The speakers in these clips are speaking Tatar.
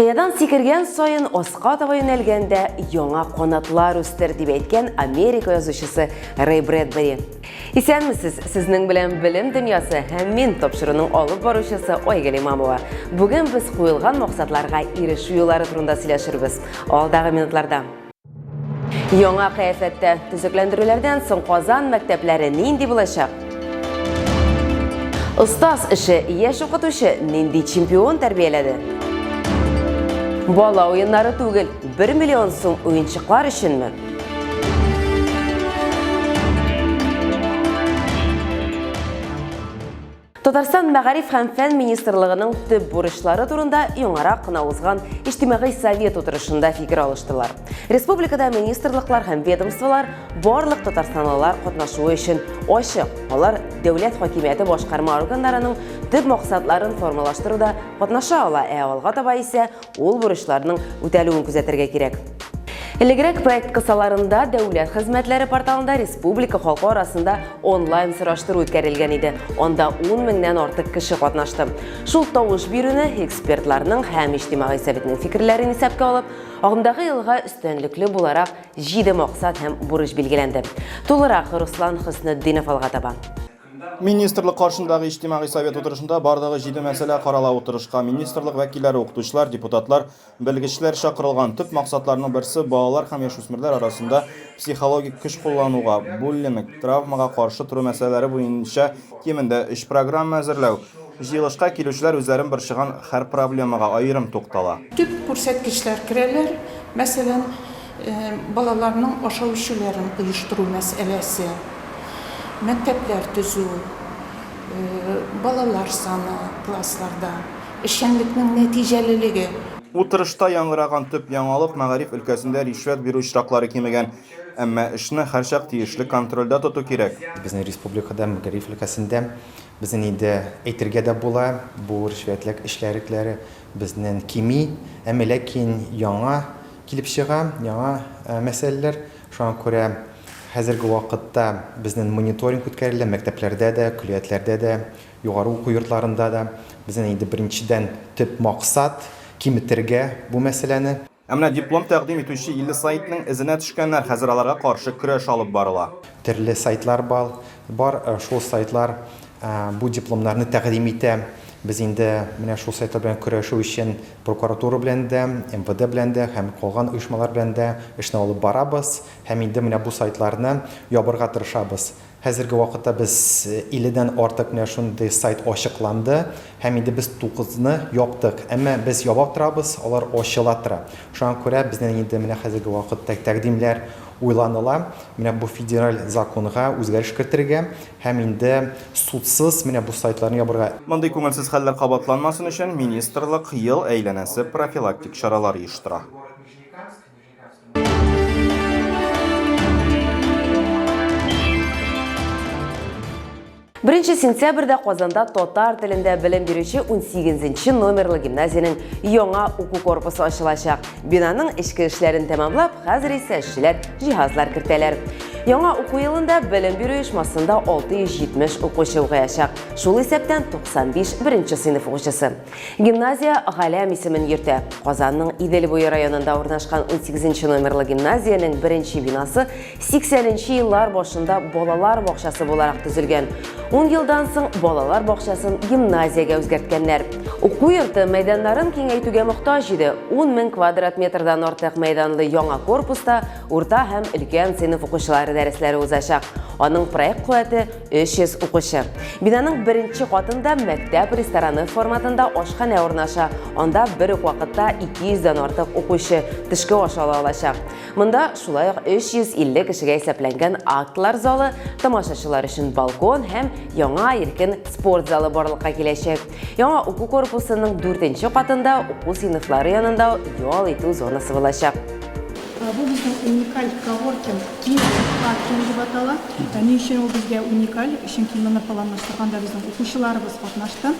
Кыядан сикергән саен аска таба юнәлгәндә яңа канатлар үстер, дип әйткән Америка язучысы Рэй Брэдбери. Исәнмесез, сезнең белән Белем дөньясы һәм мин тапшыруның алып баручысы Айгөл Имамова. Бүген без куелган максатларга ирешү юллары турында сөйләшербез. Алдагы минутларда. Яңа кыяфәттә төзекләндерүләрдән соң Казан мәктәпләре нинди булачак? Остаз эше яшь укытучы нинди чемпион тәрбияләде? Бала уеннары түгел, 1 миллион сум уенчыклар өченме? Татарстан мәгариф һәм фән министрлыгының төп бурычлары турында яңарак кына узган иҗтимагый совет утырышында фикер алыштылар. Республикада министрлыклар һәм ведомстволар барлык татарстанлылар катнашуы өчен ачык. Алар дәүләт хакимияте башкарма органнарының төп максатларын формалаштыруда катнаша ала, ә алга таба исә Ул бурычларның үтәлүен күзәтергә кирәк. Элегрәк проект кысаларында Дәүләт хезмәтләре порталында республика халкы арасында онлайн сораштыру үткәрелгән иде. Анда 10 меңнән артык кеше катнашты. Шул тавыш бирүне экспертларның һәм иҗтимагый советның фикерләрен исәпкә алып, агымдагы елга өстенлекле буларак 7 максат һәм бурыч билгеләнде. Тулырак Руслан Хөснетдинов алга таба. Министрлык каршындагы иҗтимагый совет утырышында барлыгы җиде мәсьәлә карала Утырышка министрлык вәкилләре, укытучылар, депутатлар, белгечләр чакырылган Төп максатларның берсе, балалар һәм яшүсмерләр арасында психологик көч куллануга, буллинг, травмага каршы тору мәсьәләләре буенча кимендә өч программа әзерләү. Җыелышка килүчеләр үзләрен борчыган хәр проблемага аерым туктала. Төп күрсәткечләр керәләр, мәсәлән, балаларның ашау-эчүләрен оештыру мәсьәләсе, мәктәпләр төзү, балалар саны классларда, эшчәнлекнең нәтиҗәлелеге. Утырышта яңгыраган төп яңалык, мәгариф өлкәсендә ришвәт бирү очраклары кимегән. Әмма эшне һәрчак тиешле контрольдә тоту кирәк. Безнең республикада мәгариф өлкәсендә Безнен инде әйтергә дә була, бу ришвәтлек эчкәрекләре безнен кими, әмма ләкин яңа килеп чыга, яңа мәсьәләләр. Шуңа күрә хәзерге вакытта безнен мониторинг үткәрелә, мәктәпләрдә дә, көллиятләрдә дә, югары уку йортларында да. Безнен инде беренчедән төп максат, киметергә бу мәсьәләне. Ә менә диплом тәкъдим итүче 50 сайтның эзенә төшкәннәр, хәзер аларга каршы көрәш алып барыла. Төрле сайтлар бал, бар, шул сайтлар бу дипломнарны тәкъдим итә. Без инде менә шул сайтлар белән көрәшү өчен прокуратура белән дә, МВД белән дә һәм калган оешмалар белән дә эшне алып барабыз һәм инде менә бу сайтларны ябырга тырышабыз. Хәзерге вакытта без 50 дән артык менә шундый сайт ачыкланды һәм инде без 9 ны яптык. Әмма без яба торабыз, алар ачыла тора. Шуңа күрә безнең инде менә хәзерге вакытта тәкъдимнәр уйланыла, менә бу федераль законга үзгәреш кертергә һәм инде судсыз менә бу сайтларны ябырга. Мондый күңелсез хәлләр кабатланмасын өчен министрлык ел әйләнәсе профилактик чаралар оештыра. Беренче сентябрьдә Казанда татар телендә белем бирүче 18-нче номерлы гимназиянең яңа уку корпусы ачылачак. Бинаның эчке эшләрен тәмамлап, хәзер исә эшчеләр җиһазлар кертәләр. Яңа уку елында белем бирү оешмасында 670 укучы укыячак. Шул исәптән 95 беренче сыйныф укучысы. Гимназия Галәм исемен йөртә. Казанның Идел буе районында урнашкан 18 номерлы гимназиянең беренче бинасы 80 нче еллар башында балалар бакчасы буларак төзелгән. 10 елдан соң балалар бакчасын гимназиягә үзгәрткәннәр. Уку йорты мәйданнарын киңәйтүгә мохтаҗ иде. 10 мең квадрат метрдан артык мәйданлы яңа корпуста урта һәм өлкән сыйныф укучылары дәресләре узачак. Аның проект куәте 300 укучы. Бинаның беренче катында мәктәп рестораны форматында ашханә урнаша. Анда бер үк вакытта 200 дән артык укучы төшке аш ала алачак. Монда шулай ук 350 кешегә исәпләнгән актлар залы, тамашачылар өчен балкон һәм яңа иркен спорт залы барлыкка киләчәк. Яңа уку корпусының дүртенче катында уку сыйныфлары янында ял итү зонасы булачак. Бу безнең уникаль коворкинг паркинг дип атала. Ни өчен ул безгә уникаль? Чөнки моны планлаштырганда безнең укучыларыбыз катнашты.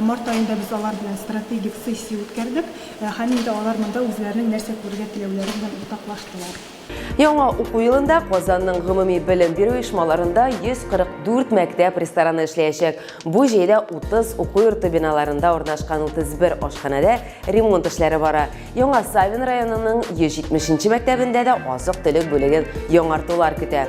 Март аенда без алар белән стратегик сессия үткәрдек һәм инде алар монда үзләренең нәрсә күрергә теләүләре белән уртаклаштылар. Яңа уку елында Казанның гомуми белем бирү оешмаларында 144 мәктәп рестораны эшләячәк. Бу җәйдә 30 уку йорты биналарында урнашкан 31 ашханәдә ремонт эшләре бара. Яңа Савин районының 170 нче мәктәбендә дә азык-төлек бүлеген яңартулар көтә.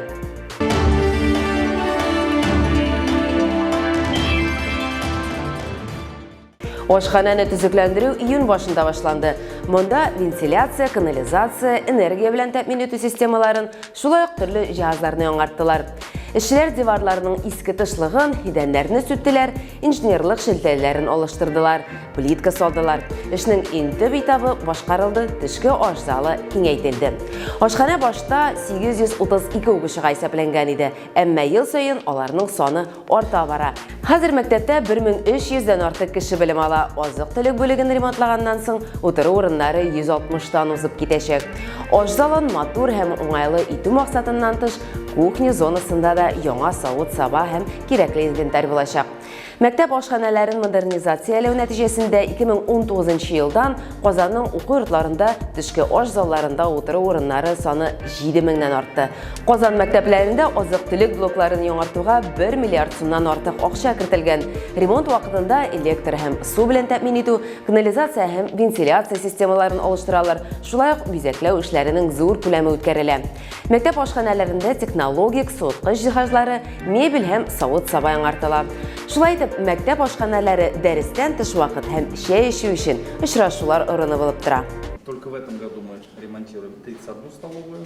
Ашханәне төзекләндерү июнь башында башланды. Монда вентиляция, канализация, энергия белән тәэмин итү системаларын, шулай ук төрле җиһазларны яңарттылар. Эшчеләр диварларның иске тышлыгын, идәннәрне сүттеләр, инженерлык шелтәләрен алыштырдылар, плитка салдылар. Эшнең иң төп этабы башкарылды, төшке аш залы киңәйтелде. Ашханә башта 832 укучыга исәпләнгән иде, әмма ел саен аларның саны арта бара. Хәзер мәктәптә 1300 дән артык кеше белем ала. Азык-төлек бүлеген ремонтлаганнан соң утыру урыннары 160 тан узып китәчәк. Аш залын матур һәм уңайлы итү максатыннан тыш, кухня зонасында да яңа савыт-саба һәм кирәкле инвентарь булачак. Мәктәп ашханәләрен модернизацияләү нәтиҗәсендә 2019 елдан Казанның уку йортларында төшке аш залларында утыру урыннары саны 7000 нан артты. Казан мәктәпләрендә азык-төлек блокларын яңартуга 1 миллиард сумнан артык акча кертелгән. Ремонт вакытында электр һәм су белән тәэмин итү, канализация һәм вентиляция системаларын алыштыралар. Шулай ук бизәкләү эшләренең зур күләме үткәрелә. Мәктәп ашханәләрендә технологик суыткыч җиһазлары, мебель һәм савыт-саба яңартыла. Шулай итеп, мәктәп ашханәләре дәрестән тыш вакыт һәм чәй эчү өчен очрашулар орыны булып тора. Только в этом году мы ремонтируем 31 столовую.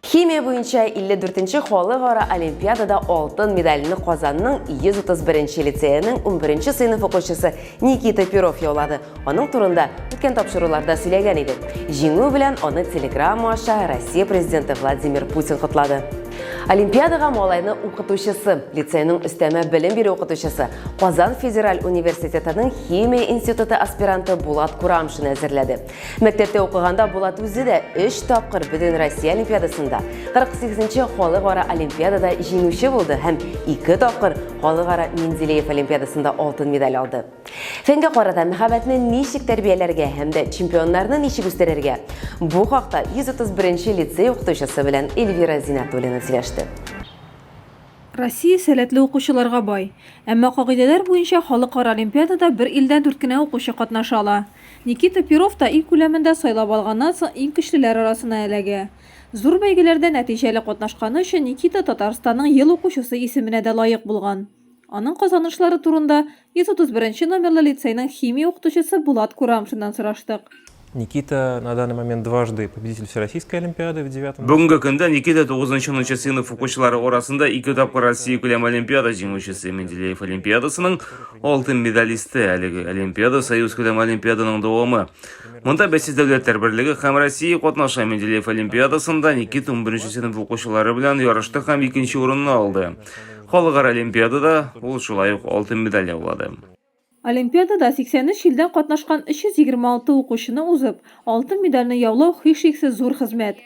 Химия буенча 54 нче халыкара олимпиадада алтын медальне Казанның 131 нче лицееның 11 нче сыйныф укучысы Никита Перов яулады. Аның турында үткән тапшыруларда сөйләгән идек. Җиңү белән аны телеграмма аша Россия президенты Владимир Путин котлады. Олимпиадага малайны укытучысы, лицейның өстәмә белем бирү укытучысы, Казан федераль университетының химия институты аспиранты Булат Курамшин әзерләде. Мәктәптә укыганда Булат үзе дә 3 тапкыр Бөтен Россия олимпиадасында, 48-нче халыкара олимпиадада җиңүче булды һәм 2 тапкыр халыкара Менделеев олимпиадасында алтын медаль алды. Фәнгә карата мәхәббәтне ничек тәрбияләргә һәм дә чемпионнарны ничек үстерергә? Бу хакта 131-нче лицей укытучысы белән Эльвира Зинатуллина сөйләште. Россия сәләтле укучыларга бай. Әмма кагыйдәләр буенча халыкара олимпиадада бер илдән дүрт кенә укучы катнаша ала. Никита Перов та ил күләмендә сайлап алганнан соң иң көчлеләр арасына эләгә. Зур бәйгеләрдә нәтиҗәле катнашканы өчен Никита Татарстанның ел укучысы исеменә дә лаек булган. Аның казанышлары турында 131 нче номерлы лицейның химия укытучысы Булат Курамшиннан сораштык. Никита на данный момент дважды победитель всероссийской олимпиады в девятом. Бүгенге көндә Никита тугызынчы-унынчы сыйныф укучылары арасында ике тапкыр Россия күләм олимпиада җиңүчесе, Менделеев олимпиадасының, Алтын медалисты әлеге Олимпиада Союз күләм Олимпиаданың дәвамы. Монда бәйсез дәүләтләр берлеге һәм Россия катнаша Менделеев Олимпиадасында Никит 11 сыйныф укучылары белән ярышты һәм икенче урынны алды. Халыкара Олимпиадада ул шулай ук алтын медаль яулады. Олимпиадада 83 илдән катнашкан 326 укучыны узып, алтын медальне яулау һичшиксез зур хезмәт.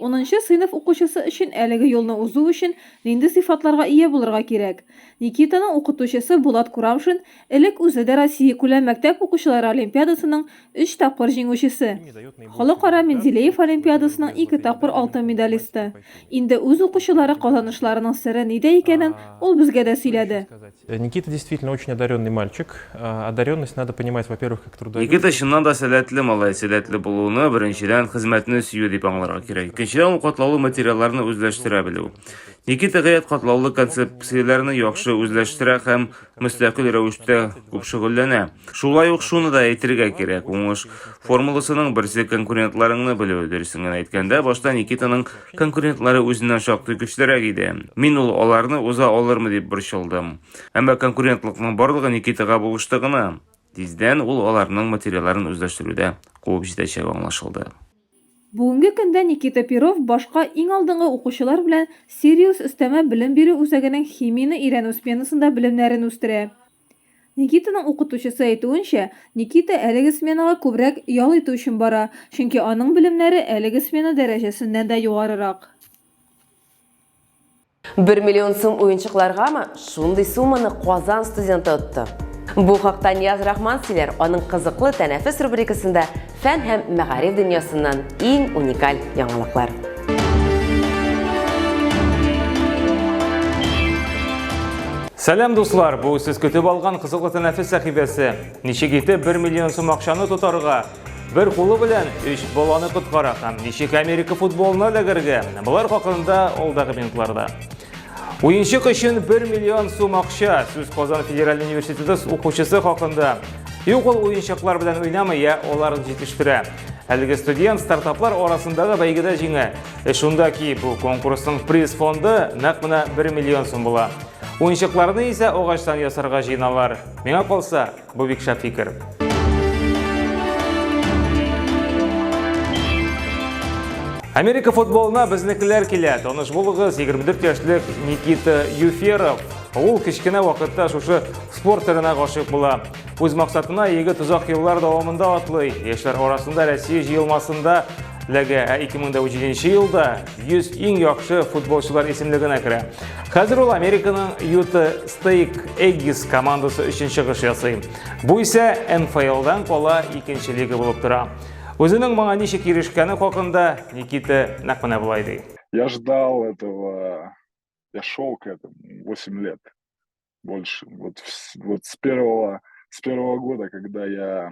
Унынчы сыйныф укучысы өчен әлеге юлны узу өчен нинди сыйфатларга ия булырга кирәк? Никитаның укытучысы Булат Курамшин элек үзе дә Россиякүләм мәктәп укучылары олимпиадасының өч тапкыр җиңүчесе, Халыкара Менделеев олимпиадасының ике тапкыр алтын медалисты. Инде үз укучылары казанышларының сере нидә икәнен ул безгә дә сөйләде. Никита действительно очень одаренный мальчик. Одаренность надо понимать, во-первых, как трудовик. Никита чыннан да сәләтле малай. Сәләтле булуны беренчедән хезмәтне сөю дип аңларга кирәк. Икенчедән ул катлаулы материалларны үзләштерә белү. Никита гаять катлаулы концепцияләрне яхшы үзләштерә һәм мөстәкыйль рәвештә күп шөгыльләнә. Шулай ук шуны да әйтергә кирәк, уңыш формуласының берсе конкурентларыңны белү. Дөресен генә әйткәндә, башта Никитаның Конкурентлары үзеннән шактый көчлерәк иде. Мин ул аларны уза алырмы дип борчылдым. Әмма конкурентлыкның барлыгы Никитага булышты гына. Тиздән ул аларның материалларын үзләштерүдә куып җитәчәге аңлашылды. Бүгенге көндә Никита Перов башка иң алдынгы укучылар белән Сириус өстәмә белем бирү үзәгенең химияне өйрәнү сменасында белемнәрен үстерә. Никитаның укытучысы әйтүенчә, Никита әлеге сменага күбрәк ял итү өчен бара, чөнки аның белемнәре әлеге смена дәрәҗәсеннән дә югарырак. Бер миллион сум уенчыкларгамы? Шундый сумманы Казан студенты отты. Бу хакта Нияз Рахман сөйләр, аның кызыклы Тәнәфес рубрикасында Фән һәм мәгариф дөньясыннан иң уникаль яңалыклар. Сәлам дуслар, бу сез көтеп алган кызыклы тәнәфес сәхифәсе. Ничек итеп 1 миллион сум акчаны тотарга? Бер кулы белән 3 баланы коткара һәм ничек Америка футболына эләгергә? Болар хакында алдагы минутларда. Уенчык өчен 1 миллион сум акча. Сүз Казан федераль университеты укучысы хакында. Юк ул уенчыклар белән уйнамый, я аларын җитештерә. Әлеге студент стартаплар арасындагы бәйгедә җиңә. Э, шунда ки бу конкурсның приз фонды нәкъ менә 1 миллион сум була. Уенчыкларны исә агачтан ясарга җыеналар. Миңа калса, Бу бик шәп фикер. Америка футболына безнекеләр килә. Таныш булыгыз, 24 яшьлек Никита Юферов. Ул кечкенә вакытта шушы спорт төренә гашыйк була. Үз максатына егет озак еллар дәвамында атлый. Яшьләр арасында Россия җыелмасында ләгә, ә 2007 елда 100 иң яхшы футболчылар исемлегенә керә. Хәзер ул Американың Юта Стейк Эггис командасы өчен чыгыш ясый. Бу исә НФЛ-дан кала икенче лига булып тора. Үзенең моңа ничек ирешкәне хакында Никита нәкъ менә болай ди. Я ждал этого, я шел к этому 8 лет больше. Вот, вот с первого с первого года, когда я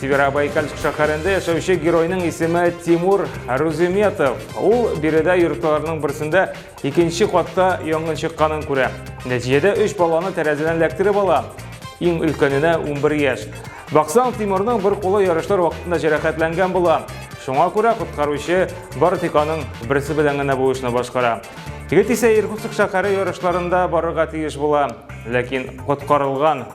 Северобайкальск шәһәрендә яшәүче геройның исеме Тимур Руземетов. Ул биредә йортларының берсендә икенче катта янгын чыкканын күрә. Нәтиҗәдә өч баланы тәрәзәдән эләктереп ала. Иң өлкәненә 11 яшь. Баксаң, Тимурның бер кулы ярышлар вакытында җәрәхәтләнгән була. Шуңа күрә коткаручы бары тик аның берсе белән генә бу эшне башкара. Егет исә Иркутск шәһәре ярышларында барырга тиеш була, ләкин коткарылган